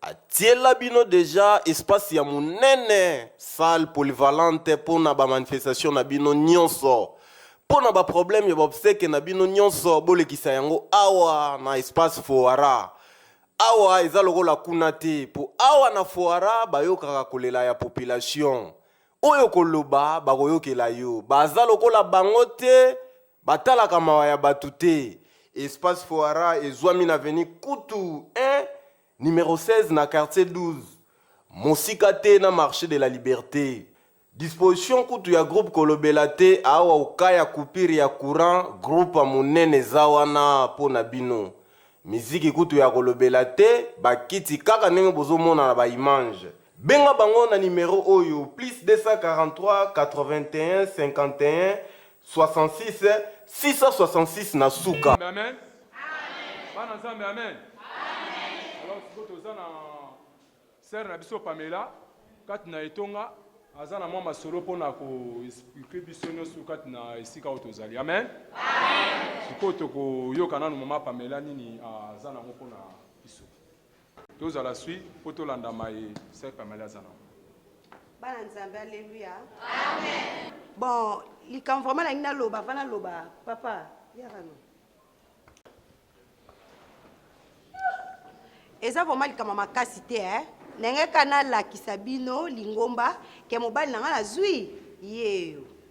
Atiela bino dejà espace ya munene salle polyvalente pona ba manifestation na bino nionso. Pona ba problème ya ba obsèques na bino nionso bolekisa yango awa na espace Foara. Awa eza lokola kuna te po awa na Foara bayokaka kolela ya population. oyo koloba bakoyokela yo baza lokola bango te batalaka mawa ya bato te espace foara ezwami na veni kutu 1 numero 16 na quartier 12 mosika te na marché de la liberté disposition kutu ya groupe kolobela te awa oka ya coupure ya courant groupe ya monene eza wana mpo na bino miziki kutu ya kolobela te bakiti kaka ndenge bozomona na baimange Benga bango na numero oyo plus 243 81 51 66 666 na suka. Amen. Amen. Bana Nzambe, amen. Alors sikoyo toza na sere na biso Pamela kati na etonga aza na mwa masolo mpo na koexplike biso nyonso kati na esika oyo tozali. Amen. Sikoyo tokoyoka nanu mama Pamela nini aza nango mpo na biso. Tozala swi po tolanda maye Sœur Pamela aza nango. Bana Nzambe, Alleluia. Amen. Bon, likambo vraiment nalingi naloba, avant naloba, papa, yaka no. eza vraiment likambo makasi te eh? ndenge kaka nalakisa bino lingomba ke mobali na ngai nazwi yeyo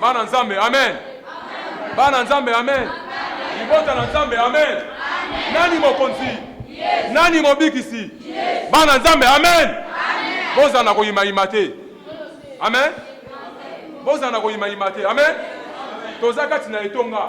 Bana Nzambe, amen. Bana Nzambe, amen. Libota na Nzambe, amen. Nani mokonzi? Nani mobikisi? Bana Nzambe, amen. Bozala na koyimayima te, amen. Bozala na koyimayima te, amen. Toza kati na etonga.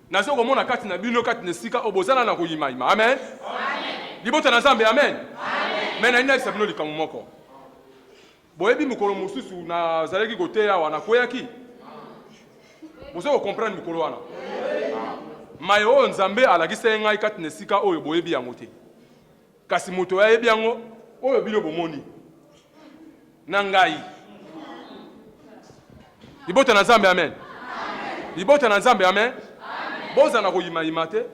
Nazo komona kati na bino, kati na esika oyo bozana na koyimayima. Amen. Libota na Nzambe, amen. Me nalingi nayebisa bino likambo moko. Boyebi, mokolo mosusu nazalaki koteya awa, nakweyaki. Bozo kokomprendre mokolo wana maye oyo Nzambe alakisaki ngai kati na esika oyo, boyebi yango te. Kasi moto oyo ayebi yango, oyo bino bomoni na ngai. Libota na Nzambe, amen. Libota na Nzambe, amen. Boza na koyimayima te,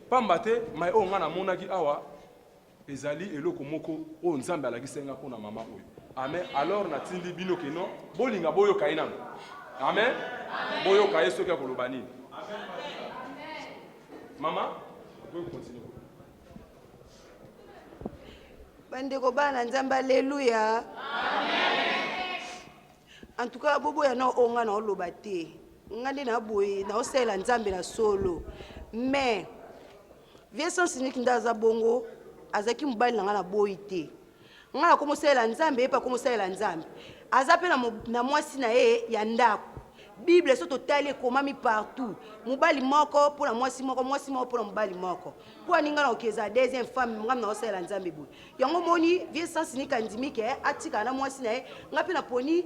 pamba te mai oyo ngai namonaki awa ezali eloko moko oyo Nzambe alakisi ngai mpo na mama oyo. Amen. Alors natindi bino keno bolinga boyoka ye nano. Amen. Boyoka ye soki akoloba nini. Mama, okoki kokontinue. bandeko bana na nzambe aleluya en tout cas boboya na oyo ngai naoloba te ngai nde naboye naosalela nzambe na solo mais vie sans unique nde aza bongo azalaki mobali na ngai na boyi te ngai nakomosalela nzambe ye mpe akomosalela nzambe aza mpe na mwasi na ye ya ndako bible so totali ekomami partout mobali moko mpo na mwasi moko mwasi moko mpo na mobali moko mpo aninga na oki eza deuxième femme ngai na osalela nzambe boye yango omoni vie sans nika ndimi ke atikala na mwasi na ye ngai mpe naponi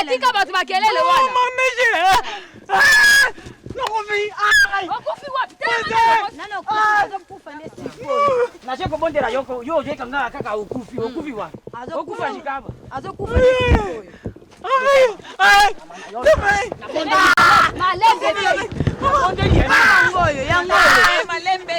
atika bato makelele wana naje kobondela yo yo ozweka nga kaka okufi okufi wa okufa likaba azokufa malembe yango oyo yango oyo malembe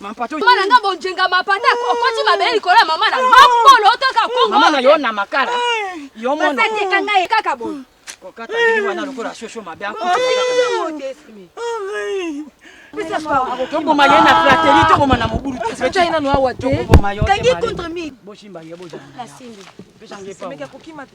mampata mama na nga bonjenga mampata okoti mabele likolo ya mama na mapolo otoka kongo mama na yo na makala yo mona kanga ye kaka bo kokata bini wana lokola shosho mabe toboma ye na flateli toboma na mobulu tetangi contre mi bosimba ye bojange kokima te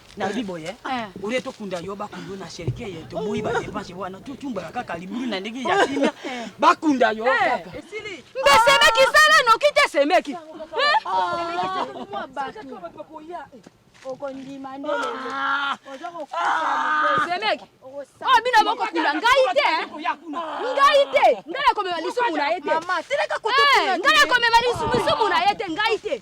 nalobi boye eh. olie tokunda yo bakunda na sherke ye toboyi badepanse wana totumbaka kaka libulu na ndenge ya kimia eh. bakunda yo eh. kaka mbe semeki sala noki te semeki okondima nde ah. oza kokusasemeki ah. oyo oh, bino bokokunda ngai te ngai te ngai nakomema lisumu na ye te ngai nakomema lisumu na ye te ngai te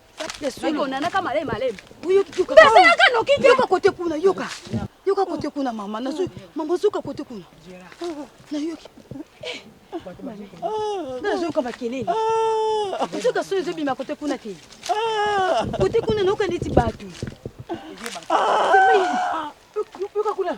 onanaka malai malai nasalaka noki te yoka kote kuna yoka yoka kote kuna mama nazo mama zoka kote kuna nayoki nazoyoka makelele ozoka soyo ezobima kote kuna te kote kuna nayoka neti bato yoka kuna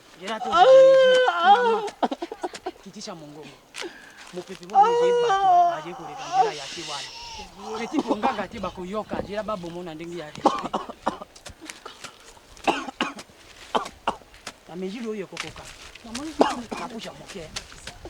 kitisha mongongo mopepe aye koleka nzela ya te wana eti mpo nganga te bakoyoka nzela babomo na ndenge ya respect na mejili oyo ekokoka nakuja moke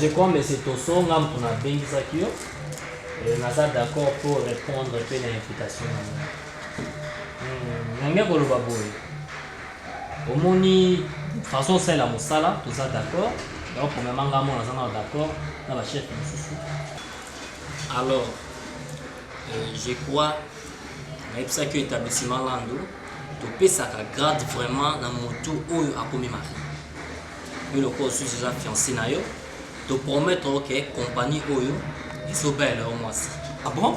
je crois mese toso nga moto nabengisaki yo naza d'accord pour répondre mpe na invitation na nga nange koloba boye omoni façon osalela mosala toza d'accord donc omema nga mona aza nao d'accord na bachef mosusu alors euh, je crois nayebisaki yo établissement lando topesaka grade vraiment na motu oyo akomi mari yo lokola osusu eza fiancé na yo topromettre oke compagnie oyo ezobela yo mwasi ah bon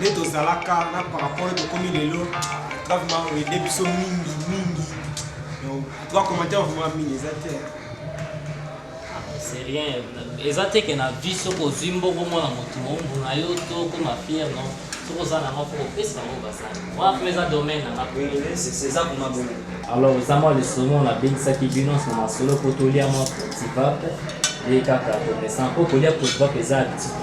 nde tozalaka na par rapport oyo tokomi lelo gravement oede biso mingi mingi toa commentaire vrema mingi eza te c'est rien eza te ke na vie soki ozwi mbongo mwana motu ombuna yo to okoma fiere no soki oza na moko opesa yango basali wana mpe eza domaine nanga eza kuna bongo alors eza mwa lisomo nabengisaki bino na masolo mpo tolia mwa cotivape ye kaka komesa mpo kolia cotivape eza habitude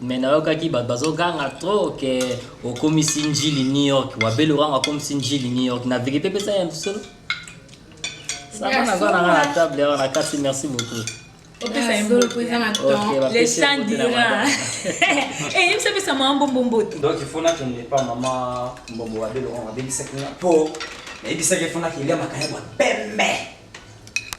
mais nayokaki bato bazoganga trop ke okomisi njili new york wabele orango akomisi njili new york na verité mpesa ya solo saba naza nanga na table awa na kati merci beaucoup eyebisapesa mama mbombo mbote donc ifo nakende pa mama mbombo wabele orango abebisaki nga mpo nayebisaki ifo nakelia makaya bwa pembe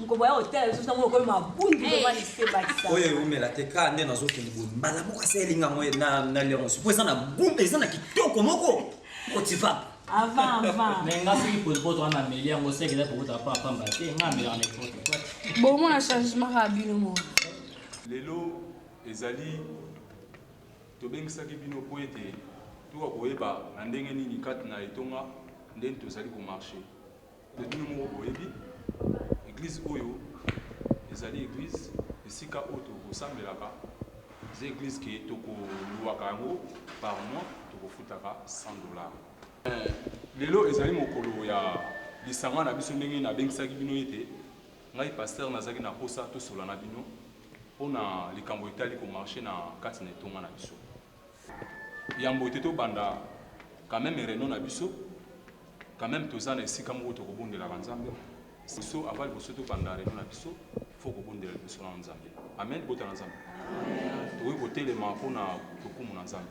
Nkobo ya hotel lisusu nango okomi mabundu vraiment lise bakisa. Oyo ewumela te ka nde nazokende boye mbala moko asa elinga yango na na leonce mpo eza na gumba eza na kitoko moko motivable. Avant avant. Mais nga soki potopoto wana ameli yango seke eza popoto pa pamba te nga amelaka na epote quoi. Bomona changement kaka bino moko. Lelo ezali tobengisaki bino mpo ete toka koyeba na ndenge nini kati na etonga ndenge tozali komarche Mais bino moko boyebi eglise oyo ezali eglise esika oyo tokosambelaka eza eglise ke tokoluaka yango par mois tokofutaka 100 dollars eh, lelo ezali mokolo ya lisanga na biso ndenge nabengisaki bino ete ngai pasteur nazalaki na posa tosola na bino mpo na likambo etali komarche na kati na etonga na biso Yambo te tobanda quand meme reunion na biso quand meme toza na esika moko toko bondelaka nzambe liboso avant liboso tobanda reunion na biso faut kobondela liboso na nzambe amen libota na nzambe tokoki kotelema mpo na lokumu na nzambe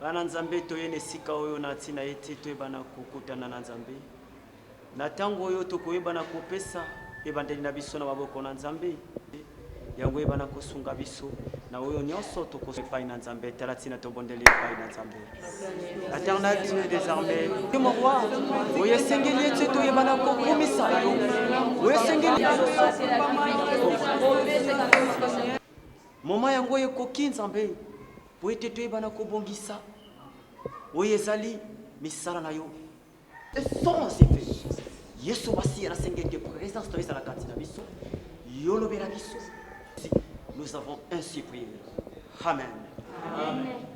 Bana Nzambe, toye na esika oyo na ntina ete toyebana kokutana na Nzambe. Na ntango oyo tokoyebana kopesa ebandeli na biso na maboko na Nzambe, yango eyebana kosunga biso na oyo nyonso tokosa epai na Nzambe. Tala ntina tobondeli epai na Nzambe. Eternel Dieu des armées, mon roi, oyo esengeli ete toyebana kokumisa yo, oyo esengeli moma yango ekoki Nzambe Mpo ete toyeba na kobongisa oyo ezali misala na yo. Essor en effet Yesu Masiya na sengi ete presence na yo ezala kati na biso, yo lobela biso. Nous avons ainsi prié. Amen. Amen.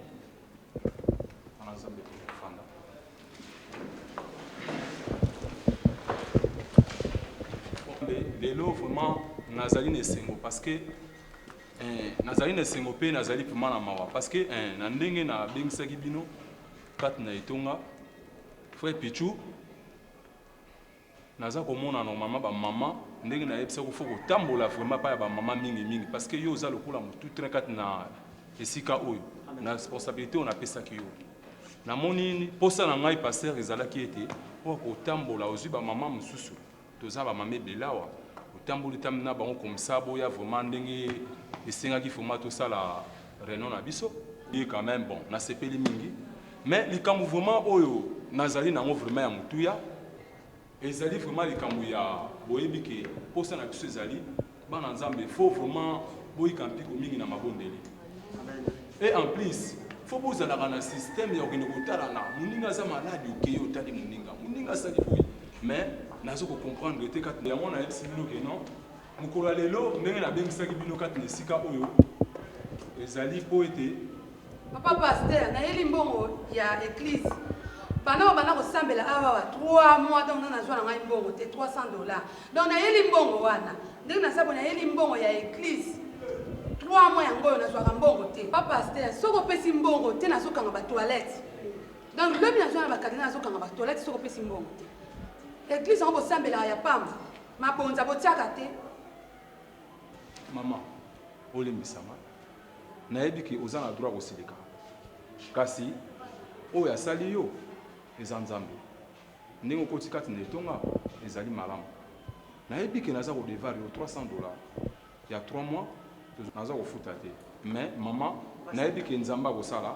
lelo vraiment nazali na esengo parce que Eh, nazali na esengo mpe nazali mpema na mawa parce que eh, na ndenge nabengisaki bino kati na etonga frère pichu naza komona normalement bamama ndenge nayebisaki fo kotambola vraiment epai ya bamama mingi mingi parce que yo oza lokola motu train kati na esika oyo na responsabilité oyo napesaki yo namoni mposa na ngai paster ezalaki ete oyo kotambola ozwi bamama mosusu Toza ba mama ebele awa otamboli tambi na bango comme ça boya vraiment ndenge esengaki vraiment tosala reunion na biso ye quand même bon nasepeli mingi mais likambo vraiment oyo nazali na yango vraiment ya motuya ezali vraiment likambo ya boyebi ke mposa na biso ezali Bana Nzambe faut vraiment boyika mpiko mingi na mabondeli. Et en plus, faut bozalaka na système ya kokende kotalana moninga aza malade okeye otali moninga moninga asali boye mais nazo kocomprendre te kati yango nayebisi bino ke non mokolo ya lelo ndenge nabengisaki bino kati na esika oyo ezali mpo ete Papa pasteur, nayeli mbongo ya eglise. Bana oyo bana kosambela awa wa 3 mois donc nana zwa na ngai mbongo te 300 dollars. Donc nayeli mbongo wana. Ndenge na sabo nayeli mbongo ya eglise. 3 mois yango oyo nazwaka mbongo te. Papa pasteur, soki opesi mbongo te nazokanga ba toilettes. Donc lobi nazwa na ba cardinal nazokanga ba toilettes soki opesi mbongo te. Eglise yango bosambelaka ya pamba. Mabonza botiaka te. Maman, olimbisama. Nayebi que oza na droit ya kosilika kasi oyo asali yo eza Nzambe. Ndenge okoti kati na etonga ezali malamu. Nayebi que naza ko devoir yo 300 dollars ya trois mois naza kofuta te mais maman nayebi que Nzambe akosala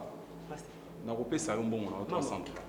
nakopesa yo mbongo na yo 300 dollars.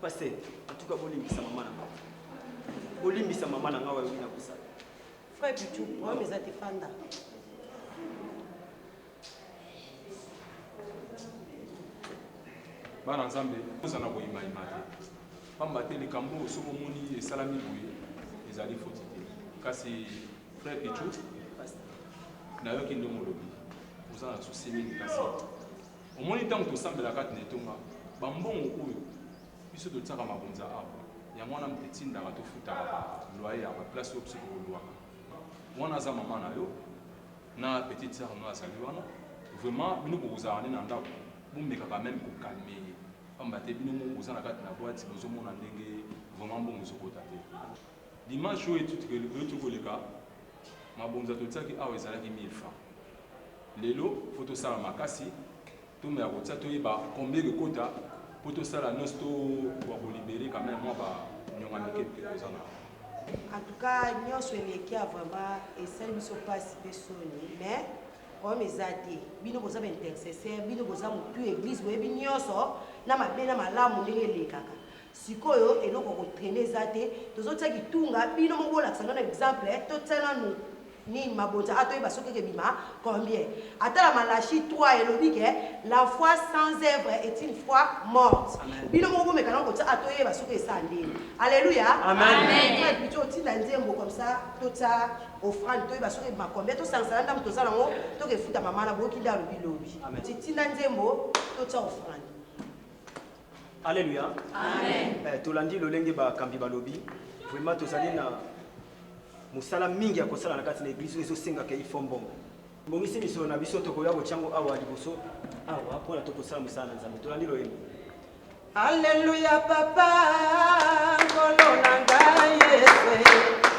Pasteur, en tout cas bolimbisa maman na ngai. Bolimbisa maman na ngai oyo na kosala. Frère Pichu, problème eza te fanda. Bana Nzambe, ozana koyima yima te. Pamba te likambo oyo soki omoni esalami boye ezali foti te. Kasi frère Pichu, nayoki ndenge olobi, oza na souci mingi kasi Omoni ntango tosambela kati na etonga, ba mbongo oyo biso totiaka mabonza awa, yango wana etindaka tofutaka ba loyer ya ba place oyo biso tokolouaka. Wana aza mama na yo, na petite soeur na yo azali wana, vraiment bino bokozala nde na ndako, bomeka quand meme ko calmer ye, pamba te bino moko boza na kati na boite, bozomona ndenge vraiment mbongo ezokota te. Dimanche oyo euti koleka, mabonza totiaki awa ezalaki 1000 francs. Lelo faut tosala makasi ntoma ya kotia toyeba combien ekokota po tosala nionso to koka ko libere quand meme mua ba nionga mike mike toza na yango. En tout cas nionso elekia vraiment esali biso pasi pe soni mais problème eza te bino boza ba intercesseur bino boza mutu eglise boyebi nionso na mabe na malamu ndenge elekaka sikoyo eloko ko trainer eza te tozotia kitunga bino moko bolakisa nano exemple totia nanu Nini mabonza a toyeba soki eke bima combien ata na Malachie trois elobi ke la foi sans œuvre est une foi morte Amen. bino moko bomeka nao kotia a toyeba soki esa ndeni alleluia Amen. Frère Picho otinda nzembo comme ça totia offrande toyeba soki ebima combien tosangisa na ndambu toza nango toke efuta mama na boyoki nde alobi lobi Amen. ti tinda nzembo totia offrande. Alleluia amen eh, tolandi lolenge bakambi balobi vraiment tozali na mosala mingi ya kosala na kati na eglise oyo ezosengaka ifo mbongo bongisi misolo na biso tokoya kotyango awa liboso awa mpona tokosala mosala na nzambe tolandi loyembo alleluia papa nkolo na ngai yesu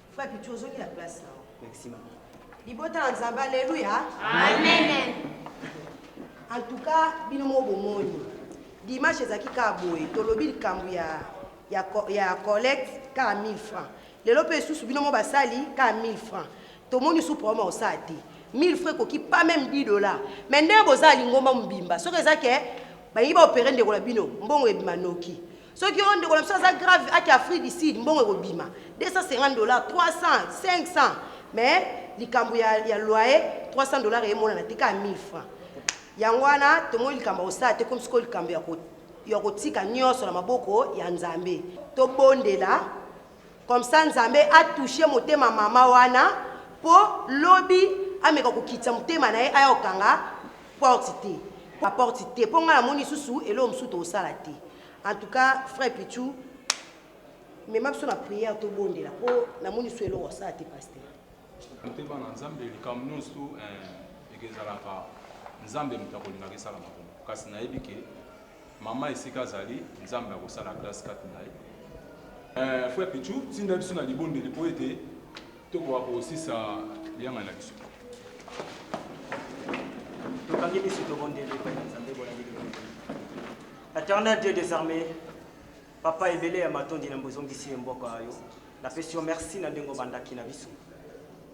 Frère Pichu, ozongi na place na yo. Merci maman. Libota na Nzambe, aleluya. Amen. En tout cas, bino moko bomoni. Dimanche ezalaki kaka boye, tolobi likambo ya ya co- ya collecte kaka 1000 francs. Lelo mpe lisusu bino moko basali kaka 1000 francs. Tomoni su problème akosala te. 1000 francs ekoki pas même 10 dollars. Mais ndenge bozala lingomba mobimba, soki eza ke balingi baopere ndeko na bino, mbongo ebima noki. soki oyo ndeko na biso aza grave ake afrique du sud mbongo ekobima 250 dollars 300 500 mais likambo ya, ya loyer 300 dollars emonana te kaka 1000 francs yango wana tomoni likambo ya kosala te komi sikoyo likambo ya kotika nyonso na maboko ya nzambe tobondela Comme ça nzambe a touche motema maman wana po lobi ameka kokitisa motema na ye aya kokanga porte te ba porte te po nga namoni lisusu eloko mosusu tokosala te en tout cas frère pichu mema biso na prière tobondela po namoni lisusu eloko asala te pasteur motema na nzambe likambo nyonso eh, ekezalaka nzambe moto akolingaka esalama kuna kasi nayebi ke Maman esika azali nzambe akosala grace kati na ye. Eh, frère Pichou, tinda biso na libondeli mpo ete tokoka kosisa liyangani na biso. Tokangi miso tobondeli epai na Nzambe bolandi Eternel Dieu des armées, papa ebele ya matondi na mbozongisi ye mboka yo. Napesi yo merci na ndenge obandaki na biso.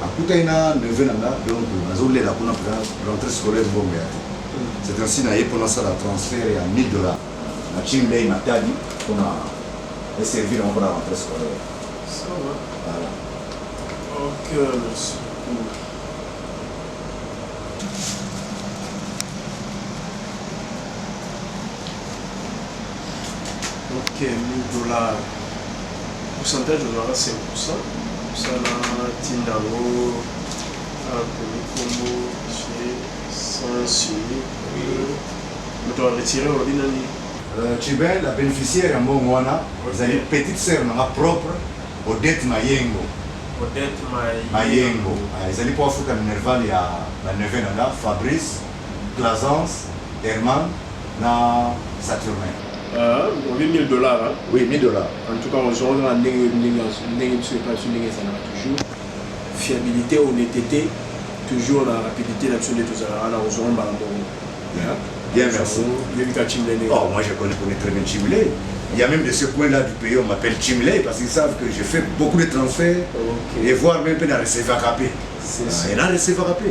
Nakutani na neveu na nga donc nazo lela kuna pona rentree scolaire mbongo eya te. C'est ainsi naye po nasala transfert ya 1000 dollars na Cim Ley Matadi pona e servir yango pona rentree scolaire. Ça va. Voilà. Ok, merci beaucoup. Ok 1000 dollars pourcentage ozwaka 5% osala tinda yango akomi kombo chez sans signer moto aretire olobi nani Chibel la beneficiaire ya mbongo wana Ok. ezali petite sœur na nga propre Odette Mayengo Odette Mayengo. Mayengo Ah, ezali mpo afuta minerval ya ba neveu na nga Fabrice Plaisance, Herman na Saturnin. Ahh olobi 1000 dollars hein. Oui 1000 dollars. En tout cas ozua oza na ndenge ndenge biso epa biso ndenge ezalaka toujours fiabilite honnetete toujours na rapidite na biso nde tozalaka wana kozua ngo mbala moko. Bien merci. Oyebi ka Chimle ndenge. Oh moi je connais connais très bien Chimle. Il y a même de ce coin là du pays on m'appelle Chimle parce qu'ils savent que je fais beaucoup de transferts okay. et voir même pe na recevaka pe. C'est ça. Et na recevaka pe.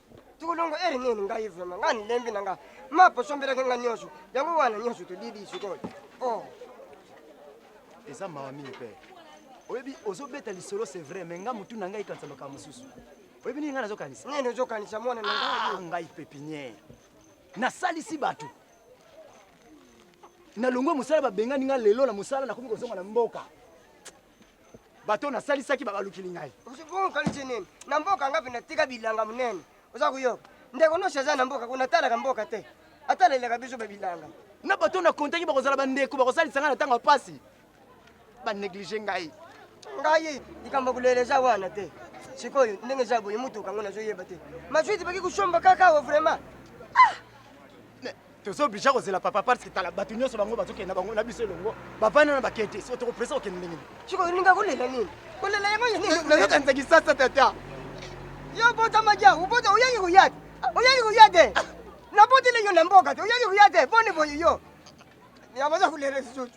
Tulungu eri nini ngai vraiment ngai nilembi na nga mapo sombelaki nga nyonso yango wana nyonso todidi sikoyo oh. eza mawa mingi pere oyebi ozobeta lisolo c'est vrai mais nga motu na ngai ekanisa makambo mosusu oyebi nini ngai nazokanisa nini ozokanisa mwana na ngai ah, ngai pepiniere nasalisi bato nalongwe mosala babengani ngai lelo na mosala nakomi kozonga na mboka bato oyo nasalisaki babalukili ngai okanisi nini na mboka ngapi natika bilanga monene oza koyoka ndeko nyonso aza na mboka kuna atalaka mboka te atalelaka biso babilanga na bato oyo nakontaki bakozala bandeko bakosalisa ngai na ntango ya mpasi baneglige ngai ngai likambo ya kolela eza wana te sikoyo ndenge eza boye motuka yango nazoyeba te maswiti baki kosomba kaka awa vraiment ah! tozo oblige kozela papa parce que tala bato nyonso bango bazokende na bango na biso elongo bavandi wana bakei te so tokopresa kokende ndenge nini siko olinga kolela nini kolela yango nayokanisa kisasa tata yo obotamaki yango obota oyangi koya te oyangi koya te naboteli yo na mboka te oyangi koya te boni boye yo yabaza kolela lisusu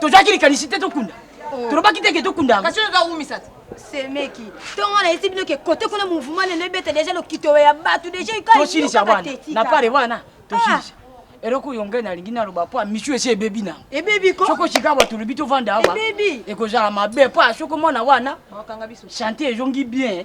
tozwaki likanisi te tokunda oh. tolobaki te ke tokunda yango semeki ntongo wana esi bino ke kote kuna mouvement lelo ebeta deja lokito ya bato deja tosilisa wana na pare wana tosilisa ah. eloko oyo ngai nalingi naloba mpo misu esi ebebi na ebebi ko soko sika bato olobi tovanda awa ebebi ekozala mabe mpo soko mwana wana chante ezongi bien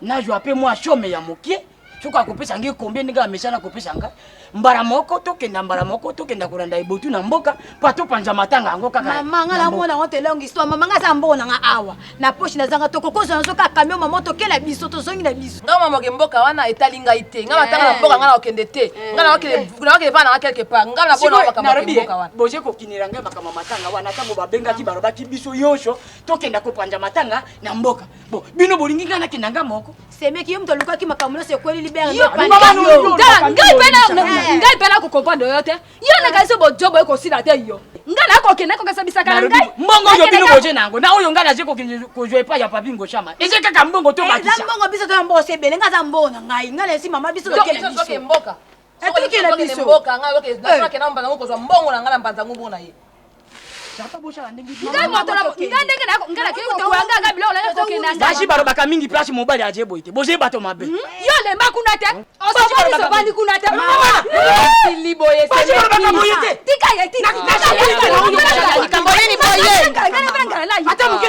nazwa mpe mwa some ya moke soki akopesa ngai kombe ndenge amesana akopesa ngai mbala moko tokenda mbala moko tokenda kolanda ebotu na mboka mpo topanza matanga yango kaka mama ngai namona yango te longue histoire mama ngai aza mbongo na ngai awa na poche nazanga tokokozwa nazo kaka kamio mama tokela biso tozongi na biso ngai mama ke mboka wana etali ngai te ngai matanga na eh. mboka ngai nakokende te eh. ngai nakokende vana ngai quelque part ngai nabona makambo ya mboka wana boje kokinela ngai makambo matanga wana ntango babengaki balobaki biso yonso tokenda kopanza matanga na mboka Bon, bino bolingi nga nakenda nga moko semeki yo moto alukaki makambo nyonso ekweli libere ngai mpe nakokomprendre yo te yo nakanisi bojobo ekosila te yo ngai nakokende kokesabisaka na ngai mbongo oyo bino boje na yango na oyo ngai naje kokende kozwa epai ya papi ngoshama eze kaka mbongo to bakisa mbongo biso toya mbongo se ebele ngai aza mbongo na ngai ngai na esi mama biso tokende biso etokela biso ngai nakenda mbanza ngo kozwa mbongo na ngai na mbanza ngo mpo na ye baji balobaka mingi place mobali aje boye te boje bato mabe hmm? yo olemba kuna te osovandi kuna te sili boye likambo nini boyeata moke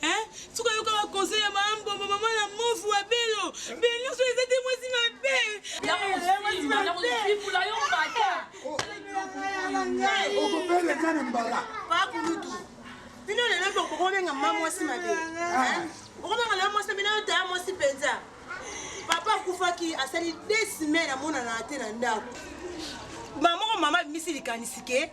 Hein? Suka yoka ba conseil ya maman Mbombo, maman la mofu wa Belo. Belo so ezate mwasi mabe. Ya mwasi mabe. Ya mwasi kula yo mbata. Okopele kana mbala. Pa kulutu. Bino lelo boko kobenga maman mwasi mabe. Hein? Okobenga lelo mwasi mabe na yo taya mwasi penza. Papa akufaki asali 2 semaines amonana te na ndako. Maman mama bimisi likanisi ke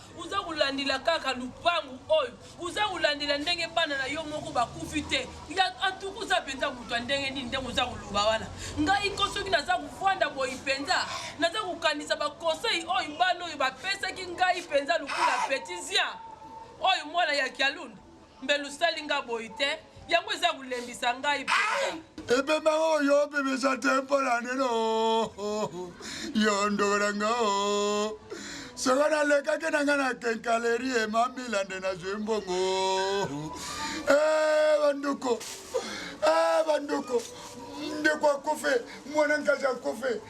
Oza kolandela kaka lupangu oyo, oza kolandela ndenge bana na yo moko bakufi te. Antuka oza penza moto ya ndenge nini ndenge oza koloba wana. Ngai ko soki naza kofanda boyi penza, naza kokanisa ba conseil oyo bana oyo bapesaki ngai penza lokola petit zia oyo mwana ya kialunda. Mbele osali nga boyi te yango eza kolembisa ngai mpenza. ebemba o yo obebisa te mpo na nini yo ndoko na nga o soko nalekaki na nga na kenkaleri emamila nde nazwi mbongo e bandoko e bandoko ndeko akufe mwana nkazi akufe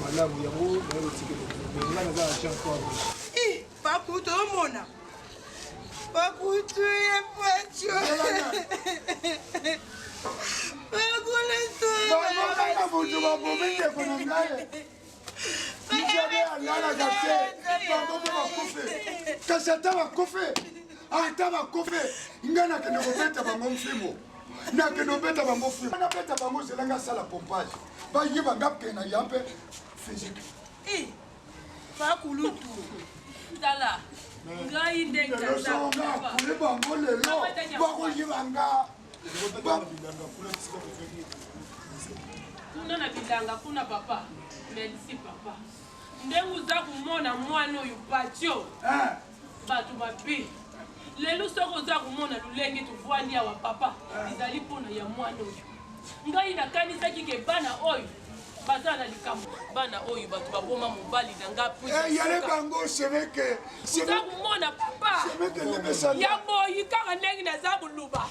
malamu yango naye otikeli mais nga naza na jean paul paku tozomona paku tuye paco bakoletoaaa moto babomi ndeko na ngai ijabe alalaka te bango mpe bakufe kasi ata bakufe ata bakufe ngai nakende kobeta bango mfimo nakende obeta bango fui na beta bango zela nga asala pompage bayeba nga mpe na ya mpe physique pakulutu tala ngai ndengakule bango lelo bakoyeba nga kuna na bilanga kuna papa merci papa ndenge oza komona mwana oyo patio eh. Bato mabe. Lelo soki oza komona lolenge tovwandi awa papa, ezali mpo na ya mwana oyo. Ngai nakanisaki ke bana oyo baza na likambo. Bana oyo bato baboma mobali na nga mpo eh, yale bango semeke. Oza komona papa. Ya boyi kaka ndenge naza koluba.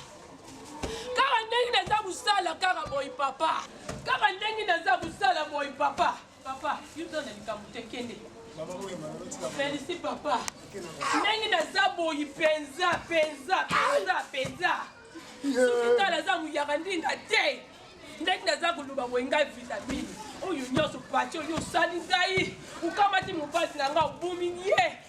Kaka ndenge naza kosala kaka boyi papa. Kaka ndenge naza kosala boyi papa. Papa, yo oza na likambo te, kende. Felicite papa. Ndenge naza boyi penza penza penza penza. Soki tala aza muyaka ndinga te. Ndenge naza koloba boye ngai vitamine. Oyo nyonso pati oyo osali ngai. Okamati mobali na ngai obomi ye.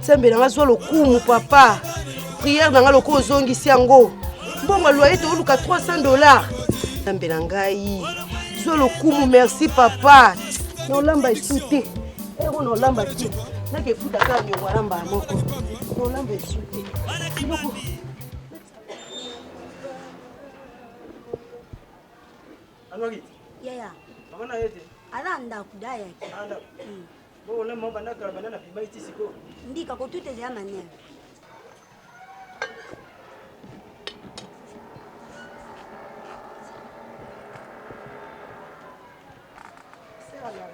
nzambe na nga zwa lokumu papa priere na nga lokola ozongisi yango mbongo loye tooluka 300 dollar nzambe na ngai zwa lokumu merci papa nolamba esu te ero nolamba te nake efuta kaka nyongo alamba moko nolamba esu te Anwaki? Yaya. Mama na yete. Ala ndaku da yaki. Ala. Mm. Bo na mama na kala banana pima iti siko. Ndika ko tuta ya mania.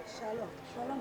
Shalom. Shalom.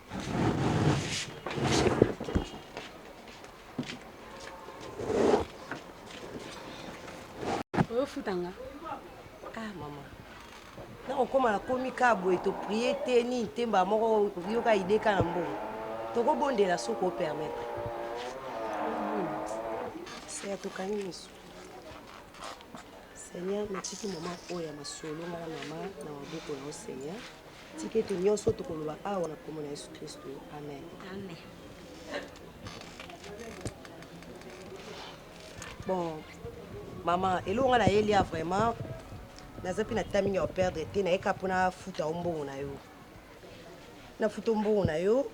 oyofutanga ah mama nakokoma nakomi kaa boye toprie te nini te mbaa moko yoka ide ka na mbongo tokobondela soki opermetre seya tokangi misu seigneur natiki mama oyo ya masolo ngai na mama na maboko na yo seigneur Tika ete nyonso oyo tokoloba awa na nkombo na Yesu Klisto, amen. Amen. Bon, mama, eloko nga nayeli ya vraiment, naza mpe na temps mingi ya koperdre te, naye kaka mpo nafuta yo mbongo na yo. Nafuta yo mbongo na yo,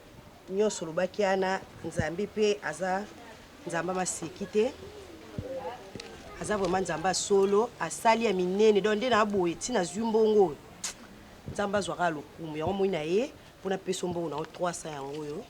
nyonso olobaki ana, Nzambe mpe aza Nzambe maseki te. Aza vraiment Nzambe ya solo, asali ya minene, donc nde naboye ti nazwi mbongo oyo. Nzambe azwa kaka lokumu yango moi na ye mpo napeso mbongo na yo 300 yango oyo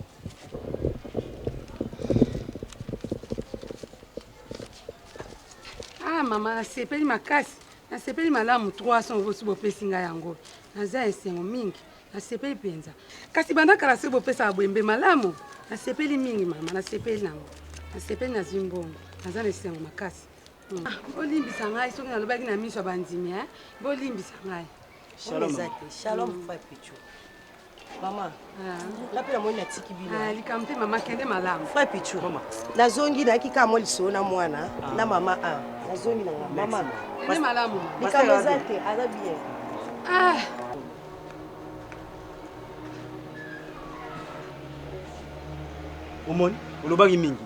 ah, mama nasepeli makasi nasepeli malamu 300 obosi bopesi ngai yango naza esengo mingi nasepeli mpenza kasi banda kala soki bopesaka bwembe malamu nasepeli mingi mama nasepeli nango nasepeli nazwi mbongo naza na esengo makasi Ah, bolimbisa ngai soki nalobaki na miso ya bandimi eh? bolimbisa ngai shalom mm. frère pichu mama ah. nga mpe namoni natiki bino ah, likambo te mama kende malamu frère pichu nazongi nayaki kaka mwa lisolo na mwana ah. na mama a nazongi na nga mama kende malamu likambo eza te aza bien omoni olobaki mingi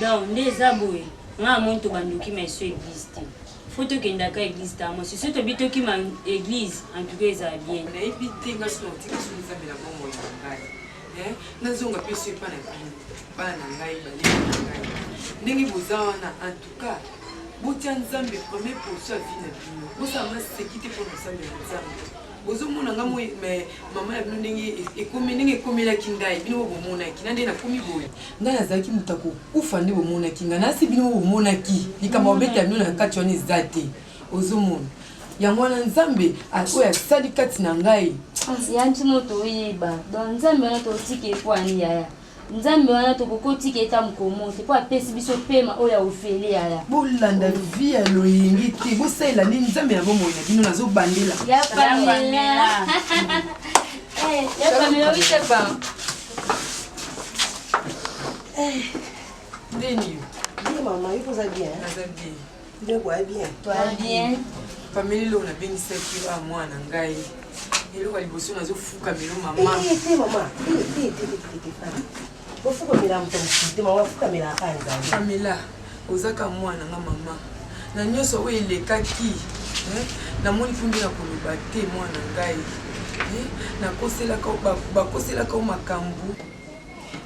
Donc nde eza boye nga na moni tobandoki ma esu eglise te fo tokendaka eglise ta mwasi so tobi tokima eglise en tout cas ezala bien nayebi te nga so natika so nzambe na bongo ya ngai eh, nazonga mpe so epa na bino bana na ngai baleki na ngai ndenge boza wana en tout cas botya nzambe premier position ya vi na bino bosala maseki te mpo na nzambe na nzambe Bozo mona nga moi mais maman ya bino ndenge ekomi ndenge ekomelaki ngai bino bo bomonaki na ndenge nakomi boye ngai nazalaki moto ya kokufa nde bomonaki ngai nasi bino bo bomonaki likambo babeta bino na kati wana eza te ozomona yango wana nzambe oyo asali kati na ngai yanti moto oyeba don nzambe wana totiki ekwani yaya Nzambe wana tokoki kotika eta mokolo moko te mpo apesi biso pema oyo ya ofele yaya bolanda vi ya loyenge te bosalela nde nzambe na bomoi na bino nazobandela ya pamela eh, ya pamela oitepa eh. ndeni yo mama yo koza bien Nde boye bien. Toi bien. Famille lelo na bengi sa kilo a mwana ngai. Eloko ya liboso nazo fuka melo mama. Eh te mama. Eh te te te te te. Bo fuka mela mto msite mama fuka mela kanza. Famille oza ka mwana nga mama. Na nyoso oyo elekaki. Eh, namoni kundi na koloba te mwana ngai. Eh, nakoselaka bakoselaka makambo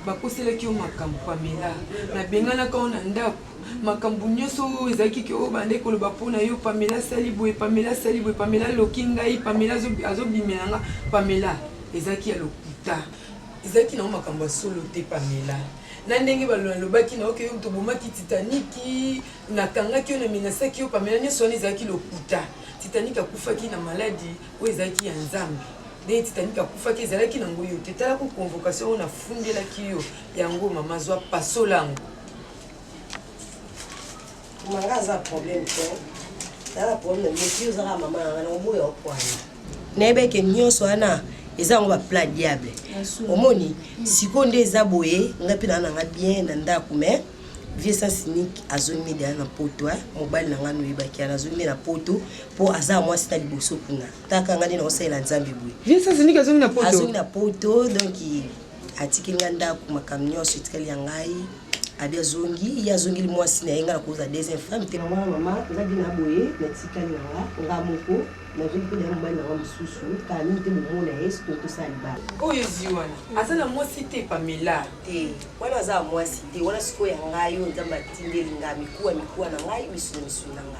bakoselaki yo makambo pamela nabenganaka yo na ndako makambo nyonso oyo ezalaki ke oyo bandeki koloba mpo na yo pamela asali boye pamela asali boye pamela aloki ngai pamela azobimela nga pamela ezalaki ya lokuta ezalaki nango makambo ya solo te pamela na ndenge balobaki na oke yo moto obomaki titaniki nakangaki yo na menasaki yo pamela nyonso wana ezalaki lokuta titaniki akufaki na maladi oyo ezalaki ya nzambe ndenge titanic akufaki ezalaki nango yo te talako convocation oyo nafundelaki yo yango mama zwa pasola yango Manga aza problème te. Aza problème mais si ozaka maman na na oboya okwana. Nebe ke nyonso wana eza yango ba plat diable. Omoni siko nde eza boye nga pe na nga bien na ndaku mais vieux sans unique azongi deja na poto mobali na ngai noyebaki ana azongi na poto mpo aza mwasi na liboso kuna taka ngai nde naosalela nzambe boye vieux sans unique azongi na poto azongi na poto donc atikeli nga ndako makambo nyonso etikali ya ngai abi azongi ye azongeli mwasi na ye ngai nakozala deuxième femme te mwana mama oza bi na boye natikali na nga nga moko nazongi mpe na ye mobali na nga mosusu kala mingi te bomona ye soki otosala libala oyo ezwi wana aza na mwasi te pamela te wana aza ya mwasi te wana sikoyo ya ngai oyo nzambe atindeli ngai mikuwa mikuwa na ngai misuna misuna na ngai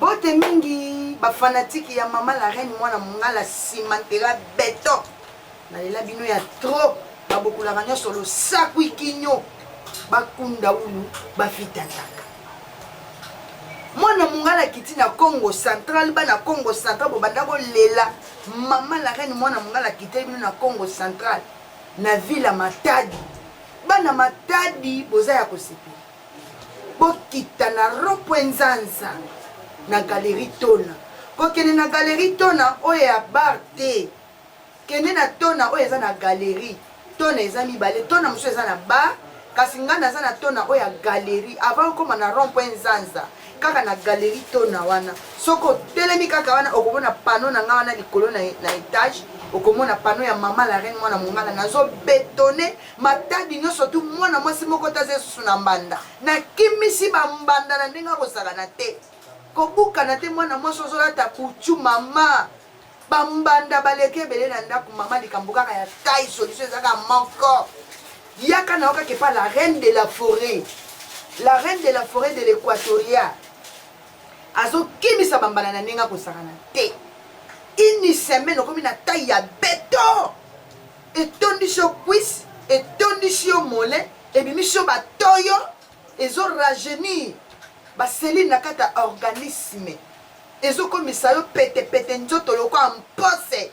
Bote mingi ba fanatiques ya maman la reine mwana mungala simantela beton nalela bino ya trop babokolaka nyonso losakwi kinyo bakunda ulu bafitataka mwana mungala akiti na congo central bana congo central bobanda kolela mama la reine mwana mungala akiteli bino na congo central na ville ya matadi bana matadi boza ya kosepela Bokita na rond-point-Nzanza, na galerie Tona. Kokende na galerie Tona, oyo ya bar te. Kende na Tona oyo eza na galerie. Tona eza mibale. Tona mosusu eza na bar, kasi ngai naza na Tona oyo ya galerie. Avant okoma na rond-point-Nzanza, kaka na galerie Tona wana. Soki otelemi kaka wana, okomona panneau na ngai wana likolo na, na etage. Okomona panneau ya Mama la Reine, mwana mongala. Nazo betonner Matadi nyoso tu mwana mwasi moko taza esusu na mbanda. Na kimisi ba mbanda na ndenge akozalana te. Kobukana te mwana mwasi ozolata kuchu mama. Ba mbanda baleki ebele na ndaku mama likambo kaka ya taille solution eza kaka moko. Yaka na yo kaka epa la reine de la forêt. La reine de la forêt de l'Equatoria. Azokimisa ba mbanda na ndenge akozalana te. Une semaine okomi na taille ya beton. etondisi yo cuisse etondisi yo mollet ebimisi yo ba toyo ezo rajeunir ba cellules na kati ya organisme ezokomisa yo pete pete nzoto lokola mpose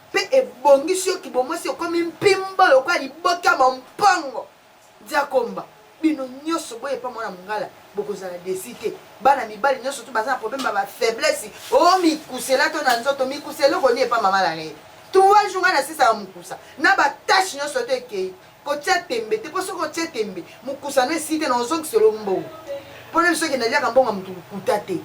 mpe ebongisi yo kibomwasi okomi mpimbo lokola liboke ya mompongo Diakomba bino nyoso boye pa mwana mungala bokozala desi te bana mibali nyoso tu baza na problème ba ba faiblesse o oh, mikusela to na nzoto mikusela eloko ni epa mama la reine trois jours ngana sisa mukusa na ba tâche nyoso to ekei kotia tembe te po soki otie tembe mukusa no esi te na ozongiselo mbongo pona biso kende liaka mbongo ya mutu lokuta te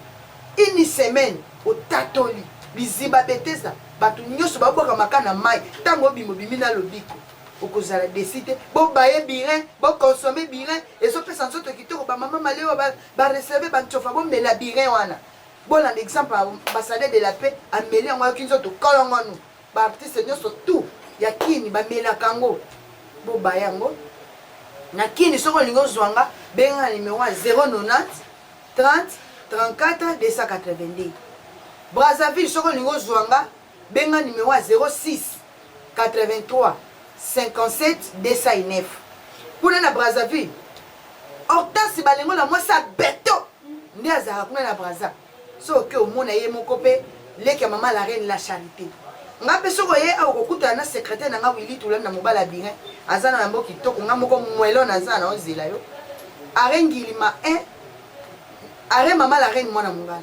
une semaine otatoli biziba betesa bato nyonso babwaka maka na mai ntango obima obimi na lobiko okozala desi te bobaye birin boconsome birin ezopesa nzoto kitoko bamama malewa bareserve bancofa bomela birin wana bolanda exemple ya ambassadeur de la paix ameli yango ayoki nzoto kolongonu baartiste nyonso tout ya kini bamelaka yango bobaya yango na kini soki olingi ozwa nga benga na numero ya 090 30 34 282 brazzaville soki olingi ozwa nga Benga numero ya 06 83 57 209 kuna na Brazzaville. Hortense Balengo na mwasi ya beto nde azalaka kuna na Brazza. Soki oke omona ye moko mpe leki ya mama la reine la charite. Nga mpe soki oye awa okokutana na secrétaire na nga Willy Tulani na mobala birin aza na yango kitoko nga moko mwelo naza na ozela yo. Are ngilima 1 are mama la reine mwana mongala.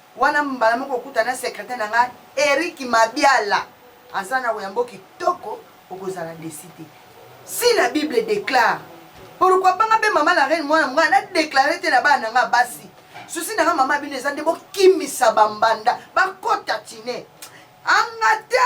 Wana mbala moko okuta na secretaire na nga Eric Mabiala aza na oyambo kitoko okozala desi te si la bible déclare pourquoi pas nga pe mama la reine mwana monga na déclare te na bana na nga basi susi na nga mama bino eza nde bokimisa bambanda bakota tine angata